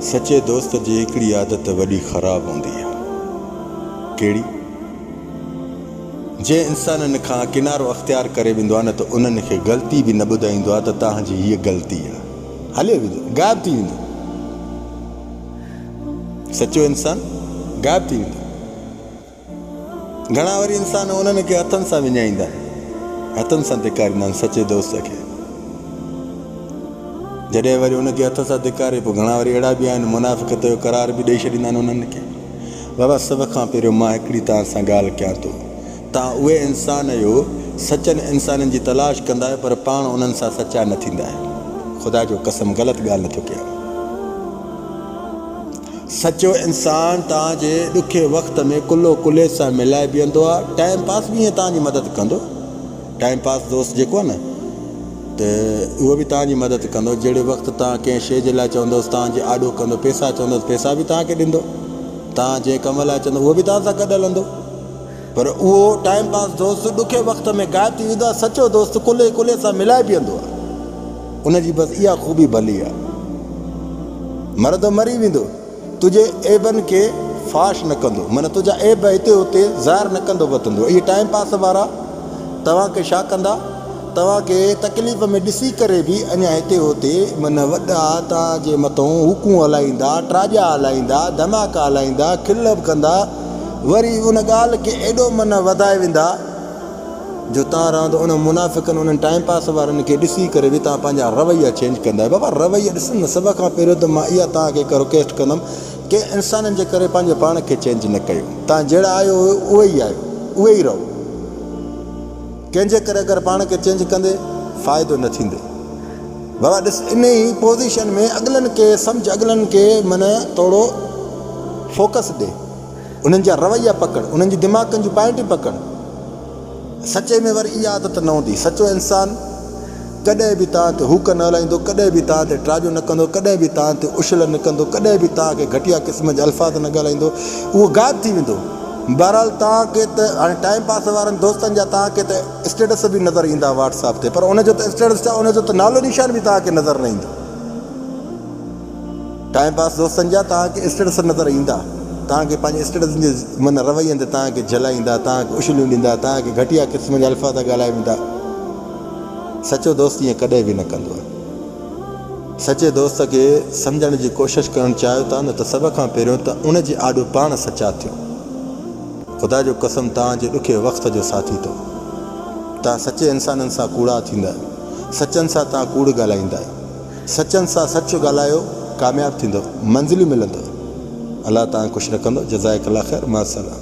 سچي دوست جي هڪڙي عادت وڏي خراب هوندي آهي. ڪهڙي؟ جنهن انسانن کان ڪنارو اختيار ڪري ويندو آهي نه ته انهن کي غلطي به نه ٻڌائيندو آهي ته توهان جي هيء غلطي آهي. هليو ويندو، غائب ٿي ويندو. سچو انسان غائب ٿي ويندو. گهڻا وري انسان انهن کي هٿن سان وڃائيندا آهن، هٿن سان ڌڪاريندا آهن سچي دوست کي. جڏهن وري ان کي هٿ سان ڌڪاري پوء گهڻا وري اهڙا به آهن منافقت جو قرار به ڏئي ڇڏيندا آهن انهن کي. بابا سڀ کان پهريون مان هڪڙي توهان سان ڳالهه ڪيان ٿو. توهان اهي انسان اهيو سچن انسانن جي تلاش ڪندا آهيو پر پاڻ انهن سان سچا نه ٿيندا آهيو. خدا جو قسم غلط ڳالهه نه ٿو ڪيان. سچو انسان توهان جي ڏکي وقت ۾ ڪلهو ڪلهي سان ملائي بيهندو آهي ٽائيم پاس به ائين توهان جي مدد ڪندو ٽائيم پاس دوست جيڪو آهي نه ته اهو به توهان جي مدد ڪندو جهڙي وقت توهان ڪنهن شي جي لاء چوندوس توهان جي آڏو ڪندو پيسا چوندوس پيسا به توهان کي ڏيندو توهان جنهن ڪم لاء چوندو اهو به توهان سان گڏ هلندو پر اهو ٽائيم پاس دوست ڏکئي وقت ۾ غائب ٿي ويندو آهي، سچو دوست ڪلهي ڪلهي سان ملائي بيهندو آهي، ان جي بس اها خوبي ڀلي آهي. مرندو مري ويندو، تنهنجي عيبن کي فاش نه ڪندو، معنيٰ تنهنجا عيب هتي هتي ظاهر نه ڪندو وتندو. اهي ٽائيم پاس وارا توهان کي ڇا ڪندا، توهان کي تڪليف ۾ ڏسي ڪري به اڃا هتي هتي معنيٰ وڏا توهان جي مٿئون هوڪون هلائيندا، ٽراڄا هلائيندا، ڌماڪا هلائيندا، کل به ڪندا، وري ان ڳالهه کي ايڏو منه وڌائي ويندا جو تان رهندو انهن منافقن انهن ٽائيم پاس وارن کي ڏسي ڪري به تان پنهنجا رويا چينج ڪندا بابا رويا ڏسن نه سڀ کان پهريون ته مان اها تان کي هڪ رڪويسٽ ڪندم ڪنهن انسانن جي ڪري پنهنجي پاڻ کي چينج نه ڪيو تان جهڙا آيو هيو اهي ئي آهيو اهي ئي رهو ڪنهن جي ڪري اگر پاڻ کي چينج ڪندي فائدو نه ٿيندي. بابا ڏس انهي پوزيشن ۾ اڳلن کي سمجهه اڳلن کي من ٿورو فوڪس ڏي انهن جا رويا پڪڙ انهن جي دماغن جون پائنٽيون پڪڙ سچي ۾ وري اها عادت نه هوندي سچو انسان ڪڏهن به توهان تي هوڪ نه هلائيندو ڪڏهن به توهان تي ٽراجو نه ڪندو ڪڏهن به توهان تي اشل نه ڪندو ڪڏهن به توهان کي گهٽيا قسم جا الفاظ نه ڳالهائيندو اهو غائب ٿي ويندو بهرحال توهان کي ته هاڻي ٽائيم پاس وارن دوستن جا توهان کي ته اسٽيٽس به نظر ايندا واٽس اپ تي پر ان جو ته اسٽيٽس ڇا ان جو ته نالو نشان به توهان کي نظر نه ايندو ٽائيم پاس دوستن جا توهان کي اسٽيٽس نظر ايندا توهان کي پنهنجي اسٽيٽسن جي من روين تي توهان کي جلائيندا توهان کي اشليون ڏيندا توهان کي گهٽيا قسم جا الفاظ ڳالهائي ويندا سچو دوست ائين ڪڏهن به نه ڪندو آهي سچي دوست کي سمجهڻ جي ڪوشش ڪرڻ چاهيو ٿا نه ته سڀ کان پهريون ته ان جي آڏو پاڻ سچا ٿيو خدا جو قسم توهان جي ڏکي وقت جو ساٿي ٿو توهان سچي انسانن سان ڪوڙا ٿيندا سچن سان توهان ڪوڙ ڳالهائيندا سچن سان سچ ڳالهايو ڪامياب ٿيندو منزليون ملندو الله توهان کي خوش رکندو جزائڪ الله خير مع السلام.